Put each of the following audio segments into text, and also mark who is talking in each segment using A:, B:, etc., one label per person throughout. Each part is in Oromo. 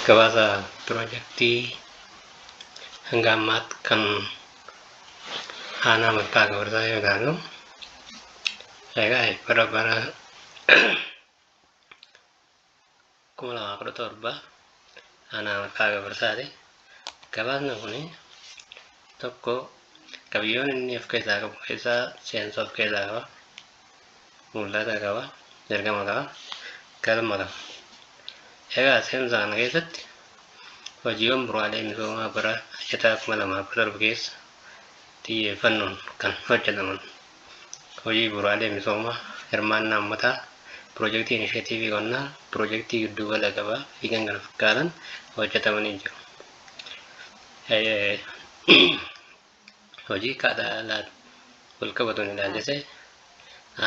A: gabaasa piroojaktii hanga ammaatti kan aanaa mattaa gabarsaa yoo ilaalu egaa bara bara kuma lamaa kudha torba Aanaa Maqaa Gabarsaati. Gabaasni kun tokko qabiyyoon inni of keessaa qabu keessaa seensa of keessaa qaba. Mul'ata qaba. Ergama qaba. Galma qaba. Egaa seensa kana keessatti hojiiwwan bu'uuraalee misoomaa bara hojjetaa kuma lamaa kudha torba keessa xiyyeeffannoon kan hojjetaman Hojii bu'uuraalee misoomaa, hirmaannaa ummataa, pirojektii inisheetiivii qonnaa, pirojektii giddugala gabaa fi kkf hojjetamanii jiru. Hojii kaadhaalaan walqabatuun ilaalchisee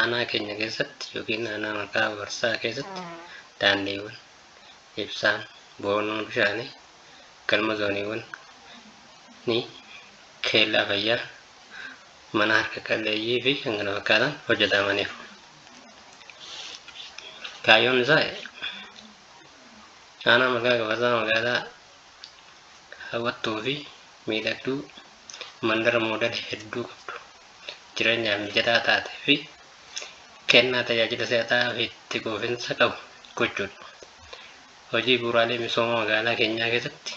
A: aanaa keenya keessatti yookiin aanaa maqaa barsaa keessatti daandiiwwan, ibsaan, boonoo bishaanii, galma zooniiwwan ni keellaa fayyaa, mana harka qalleeyyii fi kan kana fakkaatan hojjetamaniiru. Kaayyoon isaa aanaa magaa gabasaa magaalaa hawwattuu fi miidhagduu mandara moodela hedduu qabdu jireenyaaf mijataa taate fi kennaa tajaajila si'ataa fi itti quufinsa qabu gochuudha. Hojii bu'uuraalee misooma magaalaa keenyaa keessatti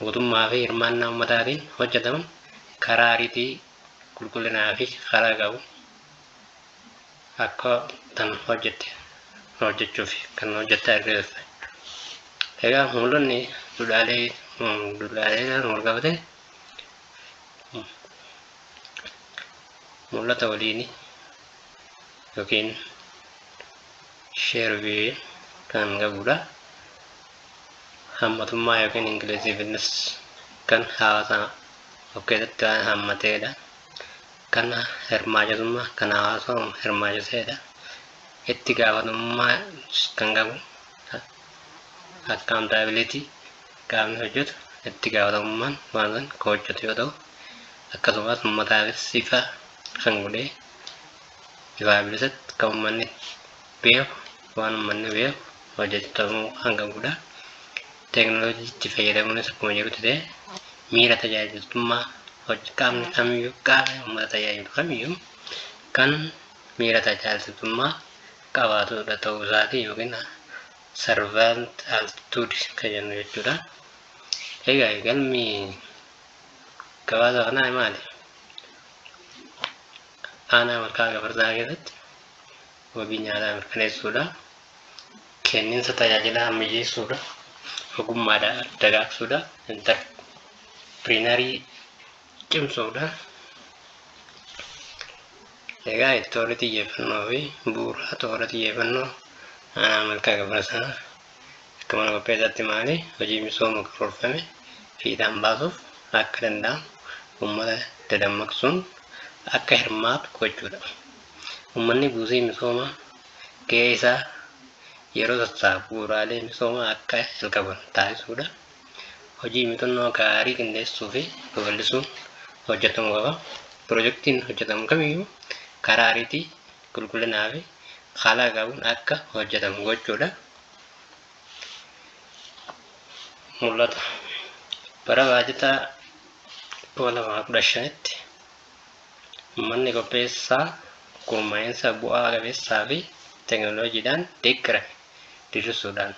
A: mootummaa fi hirmaannaa ummataatiin hojjetaman karaa ariitii qulqullinaa fi karaa qabu akka tan hojjette hojjechuuf kan hojjette argisiisa. Egaa mul'anni duudhaalee duudhaalee walqabate mul'ata waliini. yookiin share view kan qabudha. Hammatummaa yookiin inclusiveness kan hawaasa of keessatti waan hammateedha. Kan hirmaachitummaa kan hawaasa hirmaachiseedha. Itti gaafatamummaa kan qabu accountability qaamni hojjetu itti gaafatamummaan waan san kan hojjetu yoo ta'u akkasumas uummataafis ifa kan godhee ifaa bilisatti kan ummanni beeku waan ummanni beeku hojjetamuu kan qabudha. Teeknooloojiitti fayyadamuunis akkuma jirutti ta'e miira tajaajiltummaa hojii qaamni kamiyyuu qaamni uummata tajaajilu kamiyyuu kan miira tajaajiltummaa qabaatudha ta'uu isaati yookiin servant altitude kan jennu jechuudha. Egaa galmi gabaasa kanaa maali? Aanaa malkaa gafarsaa keessatti wabii nyaataa mirkaneessuudha. Kenniinsa tajaajilaa ammayyeessuudha. Ogummaadhaa dagaagsuudha. Intarpiriinarii cimsuudha. Egaa toora xiyyeeffannoo fi bu'uura toora xiyyeeffannoo aanaa malkaa gafarsaa Akka mana qopheessaatti maali hojii misooma karoorfame fiixaan baasuuf akka danda'amu uummata dadammaqsuun akka hirmaatu gochuudha. Uummanni buusii misoomaa ga'ee isaa yeroo sassaabu bu'uuraalee misoomaa akka jalqaban taasisuudha. Hojii muuxannoo gaarii qindeessuufi babal'isuun hojjetamuu qaba. Pirojektiin hojjetamu kamiyyuu karaa ariitii qulqullinaa fi haala qabuun akka hojjetamu gochuudha. Mul'ata bara baajataa 2015tti manni qopheessaa gurmaa'insa bu'aa qabeessaa fi teeknooloojiidhaan deeggarame diriirsuudhaan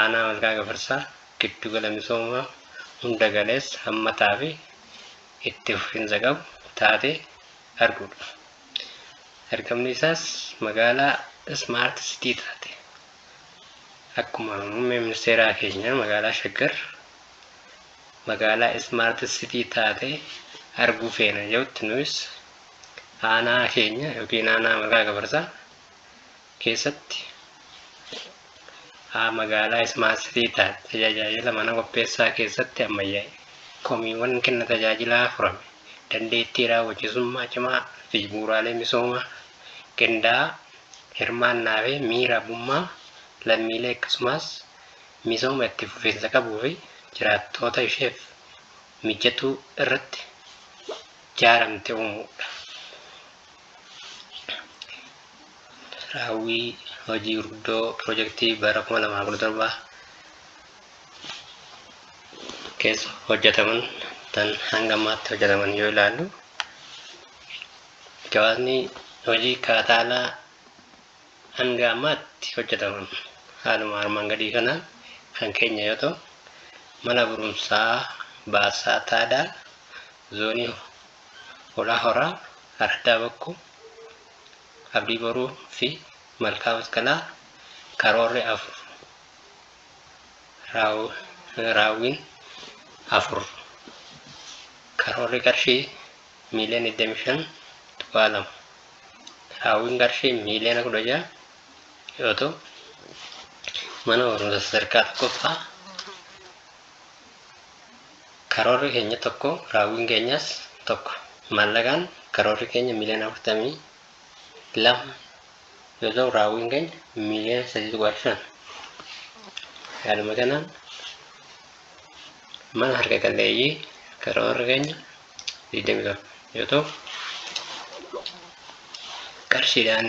A: aanaa Malkaa Gafarsaa giddugala misoomaa hunda galeessa hammataa fi itti fufiinsa qabu taatee arguudha. Ergamni isaas magaalaa Ismaart Sitii taate. Akkuma muummee ministeeraa keenya magaalaa Shaggar magaalaa Ismaart Sitii taate arguu feena jedhutti nuyis aanaa keenya yookiin aanaa Margaa Gabarsaa keessatti haa magaalaa Smart City taate tajaajila mana qopheessaa keessatti ammayyaa'e, komiiwwan kenna tajaajilaa furame, dandeettii raawwachiisummaa cimaa fi bu'uuraalee misoomaa qindaa'aa, hirmaannaa fi miira abbummaa lammiilee akkasumas misooma itti fufiinsa qabuu fi jiraattoota isheef mijatuu irratti jaaramte uumuu dha. Raawwii hojii gurguddoo pirojektii bara 2017 keessa hojjetaman tan hanga ammaatti hojjetaman yoo ilaallu gabaasni hojii kaataalaa hanga ammaatti hojjetaman haaluma armaan gadii kanaan kan keenya yoo ta'u mana barumsaa baasaa taadaa zoonii horaa horaa araddaa bakku Abdii Boruu fi Malkaa Masqalaa karoorri afur raawwiin afur karoorri qarshii miiliyoona 25.2 raawwiin qarshii miiliyoona 16 yoo ta'u mana barumsa sadarkaa tokkoffaa Karoorri keenya tokko, raawwiin keenyas tokko. Maallaqaan karoorri keenya miiliyoona 42 yoo ta'u raawwiin keenya miiliyoona 3.5. Haaluma kanaan mana harka qalleeyyii karoorri keenya 27 yoo ta'u qarshiidhaan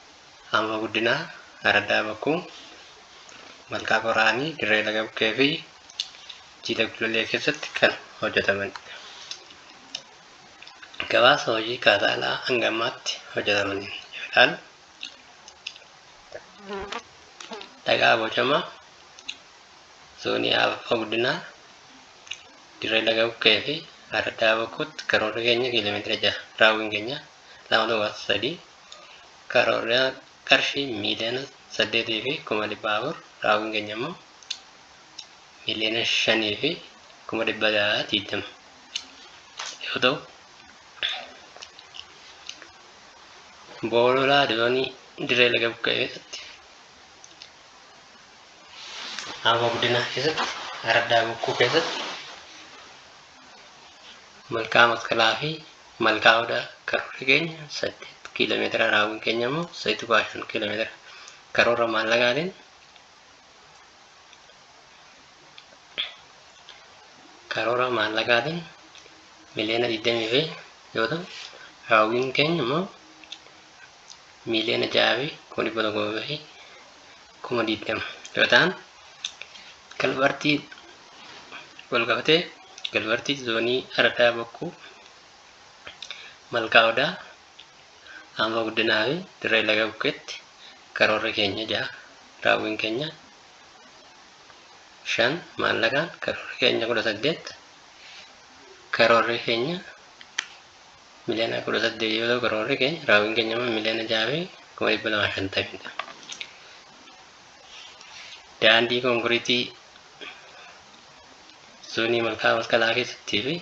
A: Aanaa Guddinaa, Araddaa Bakkuu, Malkaa Qoraanii, Dirree Laga Bukkee fi Jiidha Gullallee keessatti kan hojjetamanidha. Gabaasa hojii kaasaa alaa hanga ammaatti hojjetamaniin yoo ilaalu, dhagaa bocamaa zoonii Aanaa Guddinaa, Dirree Laga Bukkee fi Araddaa Bakkuutti karoorri keenya kiiloomeetira jaha, raawwiin keenya lama tuqaa sadii karoorri qarshii miiliyoona 8 fi kuma 400 raawwiin keenya immoo miiliyoona 5 fi kuma 620 yoo ta'u boololaa doonii dirree laga buqqee keessatti aanaa guddinaa keessatti araddaa bokkuu keessatti malkaa masqalaa fi Malkaa Odaa karoorri keenya 8 kiilomeetira raawwiin keenya immoo 3.5 kiilomeetira karoora maallaqaatiin karoora maallaqaatiin miliyoona 20 fi yoo ta'u raawwiin keenya immoo miiliyoona 6 fi kuma 100 fi kuma 20 yoo ta'an galbartii wal qabatee galbartii zoonii aradaa bokkuu malkaa odaa aanfa guddinaa fi dirree laga bukkeetti karoorri keenya ja'a raawwiin keenya shan maallaqaan karoorri keenya kudha saddeet karoorri keenya miliyoona 18 yoo ta'u karoorri keenya raawwiin keenya immoo miliyoona 6 fi kuma 250 dha. Daandii konkiriitii zoonii malkaa masqalaa keessattii fi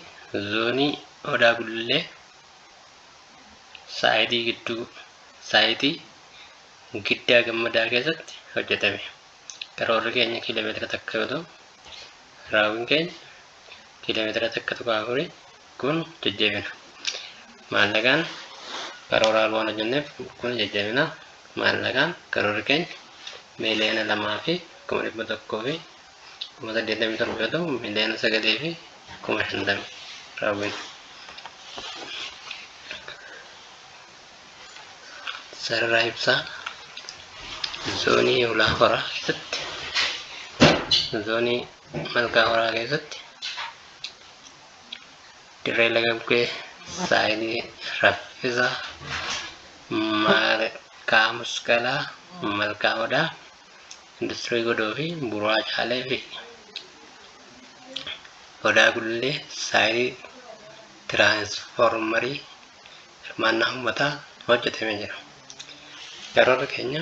A: zoonii odaa gullee saayitii gidduu saayitii giddaa gammadaa keessatti hojjetame. Karoorri keenya kiiloomeetira takka yoo ta'u raawwiin keenya kiiloomeetira takka tuqaa afurii kun jajjabina maallaqaan karooraal waan hojjenneef kun jajjabina maallaqaan karoorri keenya miiliyoona lamaa fi kuma dhibba tokkoo fi kuma saddeettamii torba yoo ta'u miiliyoona sagalii fi kuma shantama raawwina. Sarara ibsaa zoonii ulaa horaa keessatti zoonii malkaa horaa keessatti dirree laga bukkee saayinii raffisa malkaa musqalaa malkaa odaa industirii godoo fi buraa caalee fi odaa gullee saayinii tiraansfoormarii hirmaannaa uummataa hojjetamee jira. Karoorri keenya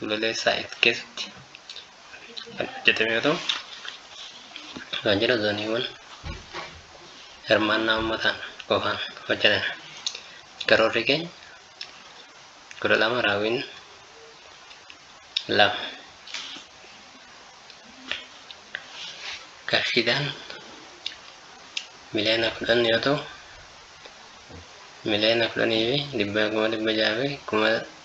A: Gololessa X keessatti kan hojjetame yoo ta'u, kan jedha zooniiwwan hirmaannaa uummataan qofaan hojjetame. Karoorri keenya kudha lama raawwiin lama. Qarshiidhaan miliyoona kudhan yoo ta'u, miliyoona kudhanii fi dhibbaa kuma dhibba jaha fi kuma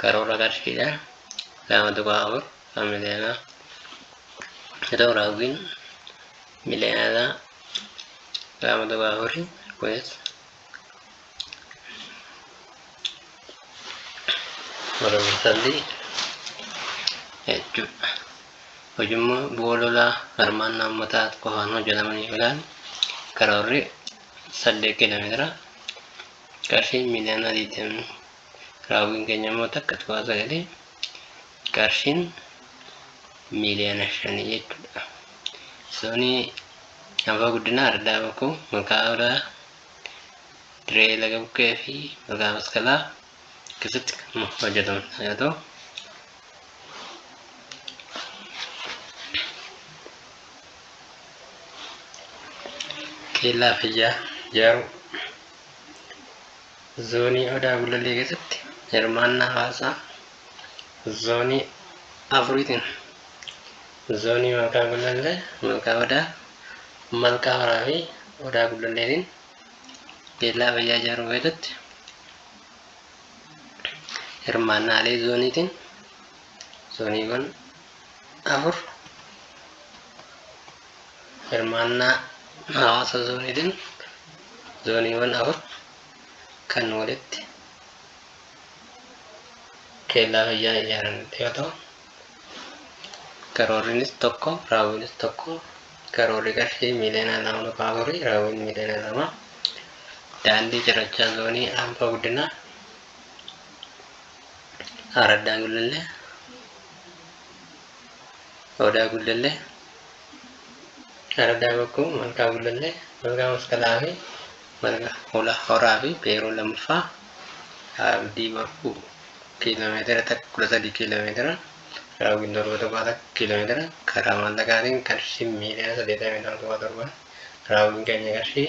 A: karoora qarshiidha lama tuqaa afur kan miliyoonaa yoo ta'u raawwiin miliyoonaa lama tuqaa afuri kunis mormisalli jechuudha hojimmoo bu'aa lolaa hirmaannaa uummataa qofaan hojjetamanii filaan karoorri saddeet kiiloomeetira qarshiin miliyoona digdamii Raawwiin keenya immoo takka tuqaa sagalii qarshiin miiliyoona shanii jechuudha. Soonii Abaa Guddinaa Ardaa Bakoo Malkaa Odaa Diree Laga Bukkee fi Malkaa Maskalaa keessatti kan hojjetamu yoo ta'u keellaa fayyaa ijaaruu Zoonii Odaa Gullallee keessatti hirmaannaa hawaasaa zoonii afuriitiin zoonii Malkaa Gullallee, Malkaa Odaa, Malkaa Horaa fi Odaa Gullalleetiin keellaa fayyaa ijaaruu keessatti hirmaannaalee zooniitiin zooniiwwan afur hirmaannaa hawaasa zooniitiin zooniiwwan afur kan walitti keellaa fayyaa ijaaran yoo ta'u karoorrinis tokko raawwiinis tokko karoorri qarshii miiliyoona lama dhufa afurii raawwiin miiliyoona lama daandii cirrachaa zoonii aanfaa guddinaa araddaa gullallee Odaa Gullallee, Araddaa Bakkoo, Malkaa Gullallee, Malkaa Masqalaa fi Malkaa Hola Horaa fi Peeroo lammaffaa Abdii Boruu kiiloomeetira takka kudha sadii kiiloomeetira raawwiin torba tuqaa takka kiiloomeetira karaa maallaqaatiin qarshii miiliyoona saddeetamii lama tuqaa torba raawwiin keenya qarshii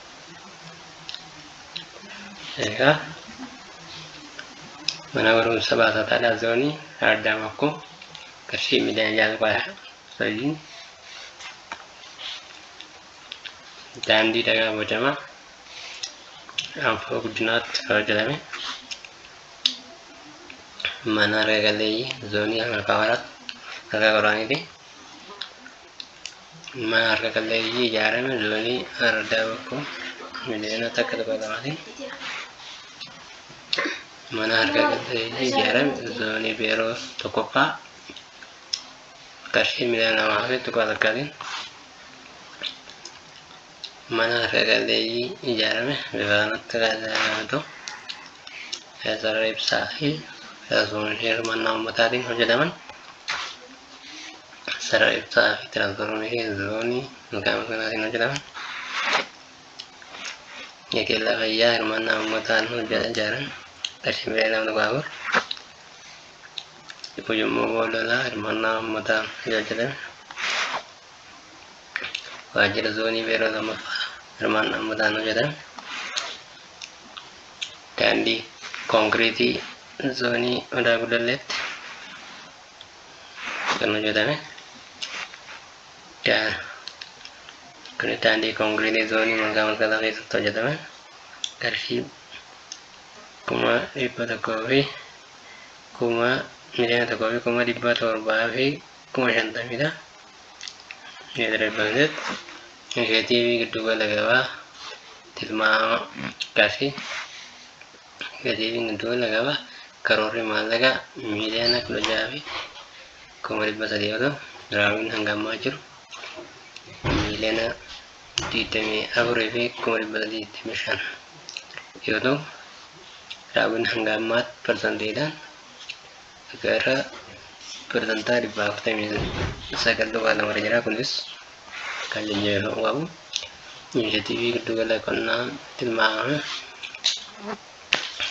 A: egaa mana barumsa baasataadhaa zoonii ardaa makkoo qarshii miliyoona jaal qoyaa sojiin daandii dhagaa bocamaa anfoo guddinaatti hojjetame mana arga galeeyyii zoonii harkaa waraatti harkaa qoraaniitii mana harka qalleeyyii ijaarame zoonii ardaa bokkuu miliyoona takka tokko lamaatiin mana harka qalleeyyii ijaarame zoonii beeroo tokkoffaa qarshii miliyoona lamaa fi tuqaa takkaatiin mana harka qalleeyyii ijaarame bifa kanatti kan ijaarame ta'u sarara ibsaa fi tiraansfoormeeshinii hirmaannaa uummataatiin hojjetaman sarara ibsaa fi tiraansfoormeeshinii zoonii maqaama kanaatiin hojjetaman yakeellaa fayyaa hirmaannaa uummataan hojjeta ijaaran qarshii miliyoona lama tuqaa afur ujummoo boololaa hirmaannaa uummataan hojjetame waajjira zoonii beeroo lammaffaa hirmaannaa ummataan hojjetan daandii konkiriitii zoonii odaa gullalleetti kan hojjetame daa- kunis daandii konkiriitii zoonii malkaa malkataa keessatti hojjetame qarshii kuma dhibba tokkoo fi kuma miliyoona tokkoo fi kuma dhibba torbaa fi kuma shantamidha. Meetira dhibba saddeet. Inisheetiivii giddugala gabaa tilmaama qarshii. Inisheetiiviin giddugala gabaa karoorri maallaqaa miiliyoona kudha jaha fi kuma dhibba sadii yoo ta'u raawwiin hanga ammaa jiru miiliyoona digdamii afurii fi kuma dhibba sadii digdamii shan yoo ta'u raawwiin hanga ammaatti parsantiidhaan akka irra persantaa dhibbaa afurtamii sagal tuqaa lama irra jira kunis kan jajjabeeffamuu qabu inisheetiivii giddugala qonnaa tilmaama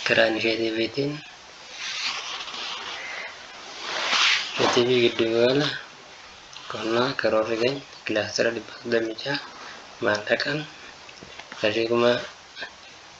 A: karaa inisheetiiviitiin inisheetiivii giddugala qonnaa karoorri keenya kilaastara dhibba soddomii ja'a maallaqaan qarshii kuma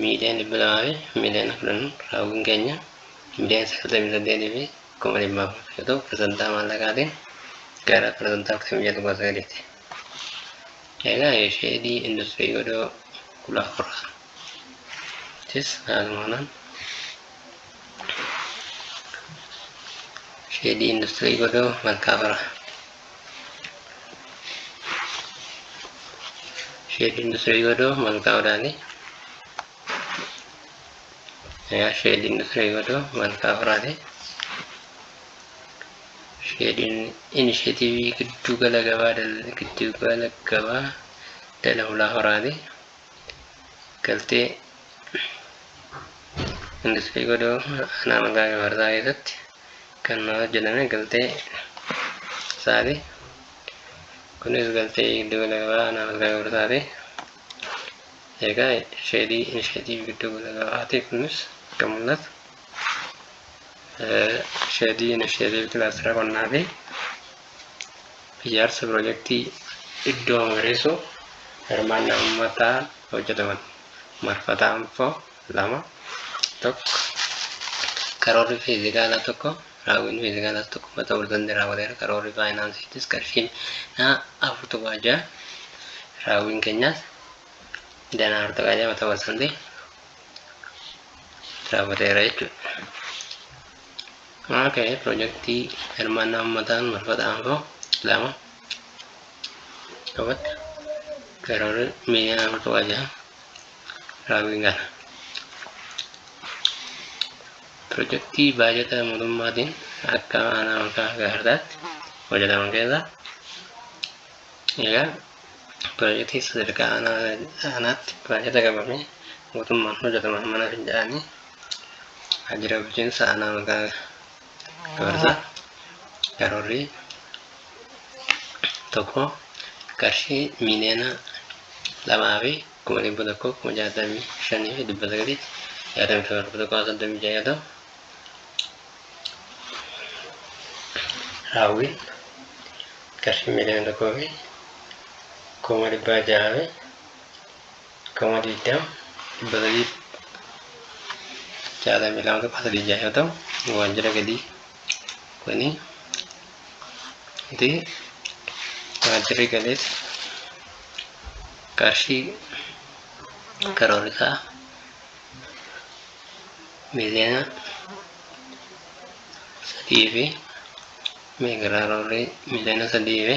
A: miiliyoon dhibba lamaa fi miiliyoona kudhan raawwiin keenya miiliyoon sagaltamii saddeetii fi kuma dhibba afur yoo ta'u parsantaa maallaqaatiin gara parsantaa afurtamii ja'a tuqaa sagaliiti. Egaa sheedii industirii godoo kudha afur jechuunis haaluma kanaan sheedii industirii godoo malkaa fara Sheedii industirii godoo malkaa horaati. Yaa sheedii industirii godoo malkaa horaati. Sheediin inisheetiivii gidduu gala gabaa dal- gidduu gala gabaa dala hulaa horaati. Galtee industirii godoo aanaa malkaa gafarsaa keessatti kan maal jedhame galtee isaati kunis galtee giddu gala gabaa aanaa malkaa gabrsaati egaa sheedii inisheetiiv giddu gala gabaati kunis akka mul'atu sheedii inisheetiiv kilaastara qonnaa fi ijaarsa pirojektii iddoo magariisuu hirmaannaa uummataa hojjetaman marfataa info lama tokko karoorri fiizikaalaa tokko raawwiin fiizikaalaas tokko mata ulfan irraa waleera karoorri faayinaansiitis qarshiin naa afur tokko ajaa raawwiin keenyaas danaa afur tokko ajaa mata ulfan raawwateera jechuudha. Okay, pirojektii hirmaannaa uummataan marfata aanfoo lama qabatti karoorri miiliyoona afur tokko ajaa Raawwiin kana pirojektii baajata mootummaatiin akka aanaa makaa gahardaatti hojjetaman keessaa egaa pirojektii sadarkaa aanaatti baajata qabamee mootummaan hojjetaman mana fincaanii waajjira bulchiinsa aanaa makaa dabarsa karoorri tokko qarshii miiliyoona lamaa fi kuma dhibba tokko kuma jaatamii shanii fi dhibba sagalii jaatamii torba dhibba tokko soddomii ja'a yoo ta'u raawwiin qarshii miiliyoona tokkoo fi kuma dhibba ja'a fi kuma digdama dhibba sadii fi jaatamii lama tuqaa sadii ja'a yoo ta'u waajjira galii kuni itti waajjirri galees qarshii karoorri isaa miliyoona sadii fi meegaraa roorrii miliyoona sadii fi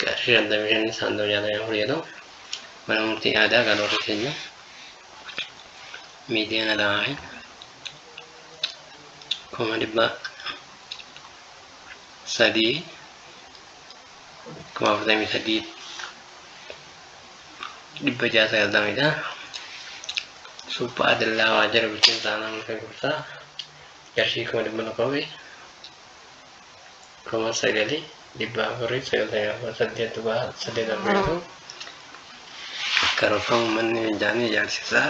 A: qarshii shantamii shan saantima jaatamii afur yoo ta'u mana murtii aadaa kan warri keenya miiliyoona lamaa fi kuma dhibba sadii kuma afurtamii sadii dhibba ja'a sagaltamidha. Supha adallaa waajjira bulchiinsa aanaa murtee gursaa qarshii kuma dhibba tokkoo fi 9 498 tuqaa 8 argatu karoorfama uummanni fincaanii ijaarsisaa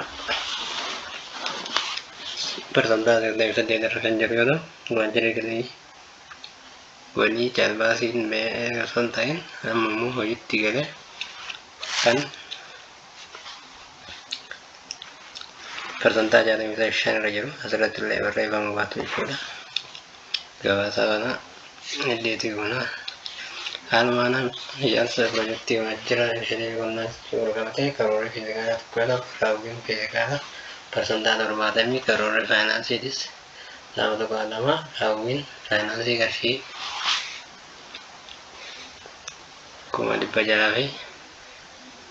A: parsantaa 98 irra kan jiru yoo ta'u waajjirri galii walii caalbaasiin ba'ee osoo hin ta'in amma immoo hojiitti gale kan parsantaa jaatamii shan irra jiru asirratti illee barreeffama baatu jechuudha. Gabaasa kana heddeetii goona. Haaluma kanaan ijaarsa pirojektii kana jira ishee qonnaa jechuun wal qabatee karoorri fiizikaalaa tokko yoo ta'u raawwiin fiizikaalaa parsantaa torbaatamii karoorri faayinaansiitis lama tokko lama raawwiin faayinaansii qarshii kuma dhibba jahaa fi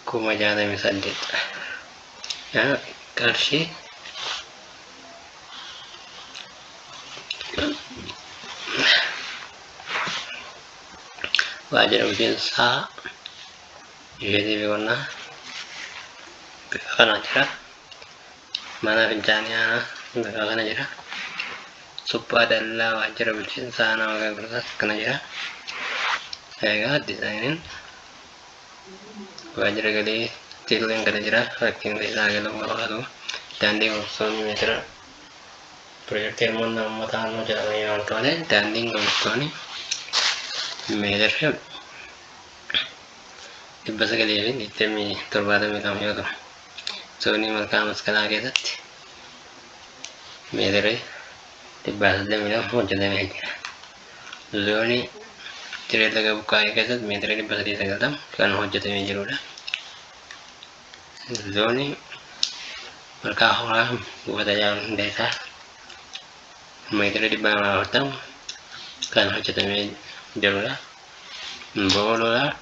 A: kuma jaatamii saddeet qarshii waajjira miseensaa isheetii fi qonnaa bifa kanaa jira mana fincaanii aanaa bifa kana jira suphaa dallaa waajjira bulchiinsaa nama gaggeessaa kana jira egaa dizaayiniin waajjira galii teeleen gala jira rakkinni isaa galuu barbaadu daandii gurgurtoonni meetira pirojektii hirmaannaa uummataa ammoo jedhamanii waan qabate daandiin gurgurtoonni meetirri dhibba sagalii fi digdamii torbaatamii lama yoo ta'u zoonii malkaa maskalaa keessatti meetirri dhibbaa saddeetamii lama hojjetamee jira. Zoonii Ciree Laga Buqqaa'ee keessatti meetira 390 kan hojjetamee jirudha. Zoonii Malkaa Hooraa buufata Jaal Hundeessaa meetira 240 kan hojjetamee jirudha. Boololaa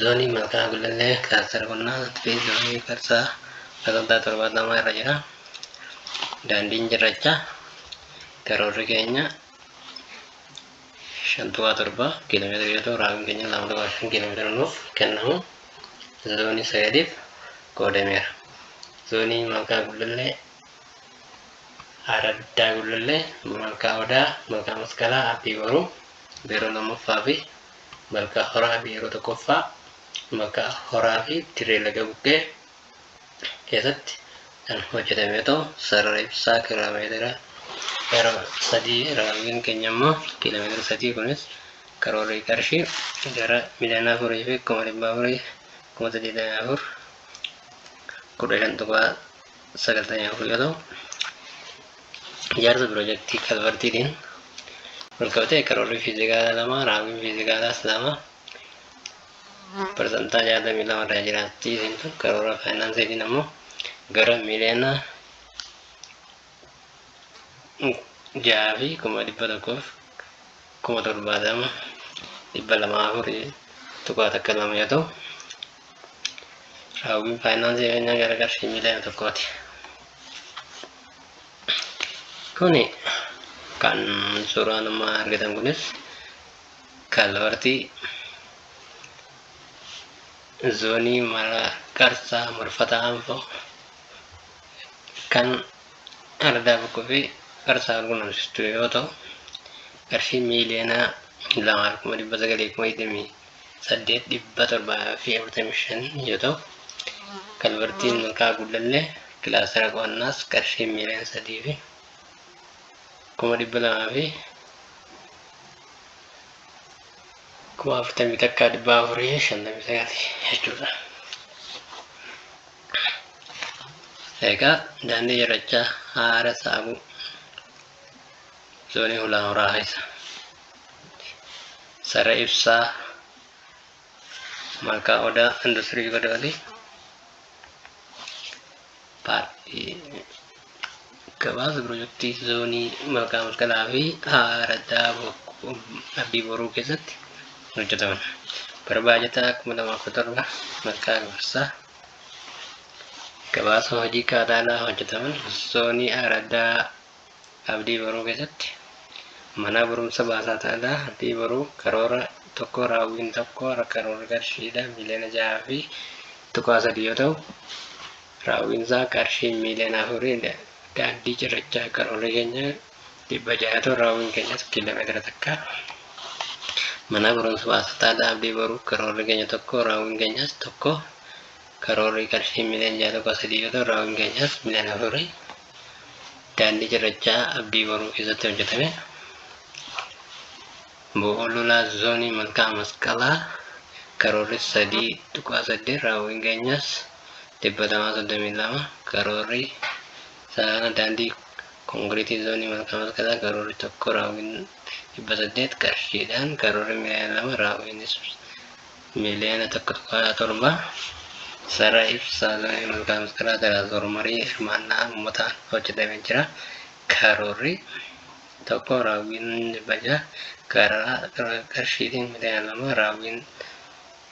A: Zoonii Malkaa Gullallee Kilaastara Qonnaa fi Zoonii Qarsaa Babal'aa torbaatamaa irra jira. Daandiin cirrachaa karoorri keenya shantuwaa torba kiiloomeetira yoo ta'u raawwiin keenya lama tokko shan kiiloomeetira nuuf kennamu zoonii sagaliif qoodameera. Zoonii Malkaa Gullallee Araddaa Gullallee Malkaa Odaa Malkaa Masqalaa Abbii Boruu Beeroo lammaffaa fi Malkaa Horaa fi yeroo tokkoffaa Malkaa Horaa fi Dirree Laga Buqqee keessatti kan hojjetame yoo ta'u, sarara ibsaa kiiloomeetira yeroo sadii raawwiin keenya immoo kiiloomeetira sadii kunis karoorri qarshii gara miliyoona afurii fi kuma dhibba afurii kuma saddeetamii afur kudha shan tuqaa sagaltamii afur yoo ta'u ijaarsa piroojeektii kalvartiitiin walqabatee karoorri fiizikaalaa lama raawwiin fiizikaalaas lama parsantaa jaatamii lama irraa jiraatti isintu karoora faayinaansiitiin ammoo gara miliyoona jaha fi kuma dhibba tokkoof kuma torbaatama dhibba lamaa afurii tuqaa takka lama yoo ta'u Raawwiin faayinaansii keenyaa gara qarshii miiliyoona tokkooti. Kuni kan suuraa nama argitan kunis kalvartii zoonii mara qarsaa marfataa anfoo kan ardaa bokkuu fi qarsaa walqunnamsistu yoo ta'u qarshii miiliyoona lamaa fi kuma dhibba sagalii kuma digdamii saddeet dhibba torbaa fi afurtamii shan yoo ta'u, kalvartiin Malkaa Gullallee kilaastara qo'annaas qarshii miiliyoona sadii fi kuma dhibba lamaa fi kuma afurtamii takkaa dhibba afurii fi shantamii sagali jechuudha. Egaa daandii cirrachaa haara saaquu zoonii hulaa horaa keessa. Sare Ibsaa, Malkaa Odaa, Industirii Godooti. Gabaasa pirojektii zoonii Malkaa Masqalaa fi Araddaa Abdii Boruu keessatti hojjetaman. Bara baajataa 2017 Malkaa Gafarsaa gabaasa hojii kaadaalaa hojjetaman zoonii Araddaa Abdii Boruu keessatti manaa barumsa baasaa ta'adha. Abdii Boruu karoora tokko raawwiin tokko karoora qarshiidha miiliyoona 6 fi tuqaa 3 yoo ta'u raawwiin isaa qarshii miiliyoona 4 dha. Daandii cirrachaa karoorri keenya 600 ta'u raawwiin keenyas kiiloomeetira takka. Manaa barumsa baasaa ta'adha. Abdii Boruu karoorri keenya tokko raawwiin keenyas tokko karoorri qarshii miiliyoona 6 tuqaa 3 yoo ta'u raawwiin keenyas miiliyoona 4. Daandii cirrachaa Abdii Boruu keessatti hojjetame bo'oo lolaa zoonii malkaa masqalaa karoorri 3.8 raawwiin geenyaas 232 karoorri sarara daandii konkiriitii zoonii malkaa masqalaa karoorri tokko raawwiin 800 qarshiidhaan karoorri miliyoona lama raawwiinis Miliyoona 1.7 Sarara ibsaa damee malkaa miskiraa Tiraansifoor marii hirmaannaa uummataan hojjetamee jira. Karoorri 1 raawwiin baja karaa qarshiitiin miliyoona 2 raawwiin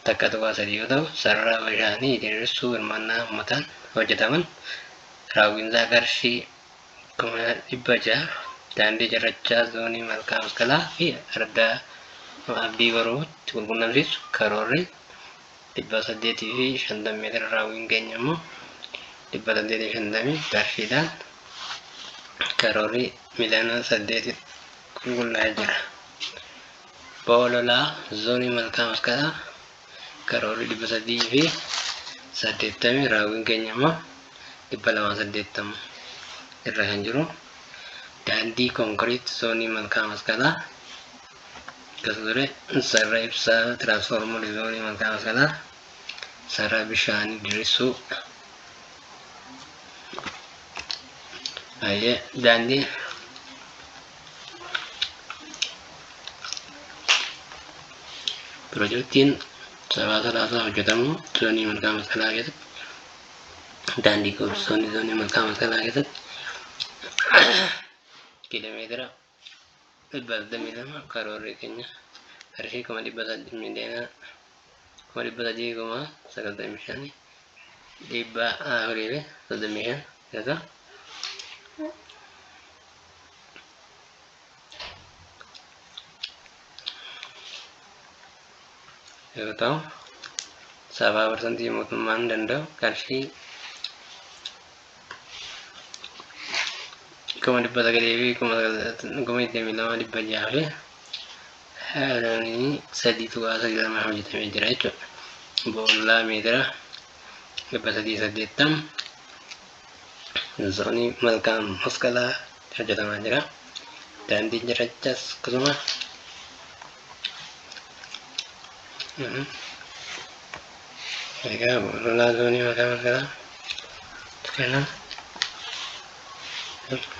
A: 1.3 yoo ta'u, sarara bishaanii diriirsuu hirmaannaa uummataan hojjetaman raawwiinsaa qarshii kuma dhibba ja'a daandii cirrachaa zoonii malkaa masqalaa fi ardaa abdii boruutti walqunnamsiisu karoorri dhibba saddeetii fi shantamii meetira raawwiin keenya immoo dhibba saddeetii fi shantamii qarshiidhaan karoorri miliyoona saddeeti qulqullaa'ee jira. Bo'oo lolaa zoonii malkaa masqalaa karoorri 380 raawwiin keenya immoo 280 irra kan jiru daandii konkiriit zoonii malkaa masqalaa akkasuma ture sarara ibsaa tiraansfoormarii zoonii malkaa masqalaa sarara bishaanii dirissuu daandii Pirojektiin sabaa salaasaa hojjetamu zoonii malkaa masqalaa keessatti daandii koolistoonni zoonii malkaa masqalaa keessatti kiiloomeetira dhibba 22 karoorri keenya qarshii kuma dhibba 8 miiliyoonaa kuma dhibba sadii kuma sagaltamii shan dhibba afurii fi soddomii shan jechuudha. yoo ta'u sabaa parsantii mootummaan danda'u qarshii kuma dhibba sagalii fi kuma kuma digdamii lama dhibba jaha fi sadii tuqaa sagalama hojjetamee jira jechuudha. Boollaa meetira dhibba sadii saddeettam zoonii malkaa masqalaa hojjetamaa jira. Daandii jirachas akkasuma Egaa lolaa zoonii maqaa masaraa kana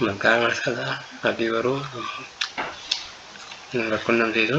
A: maqaa masaraa abdii baruu nu rakkunnamsiisu.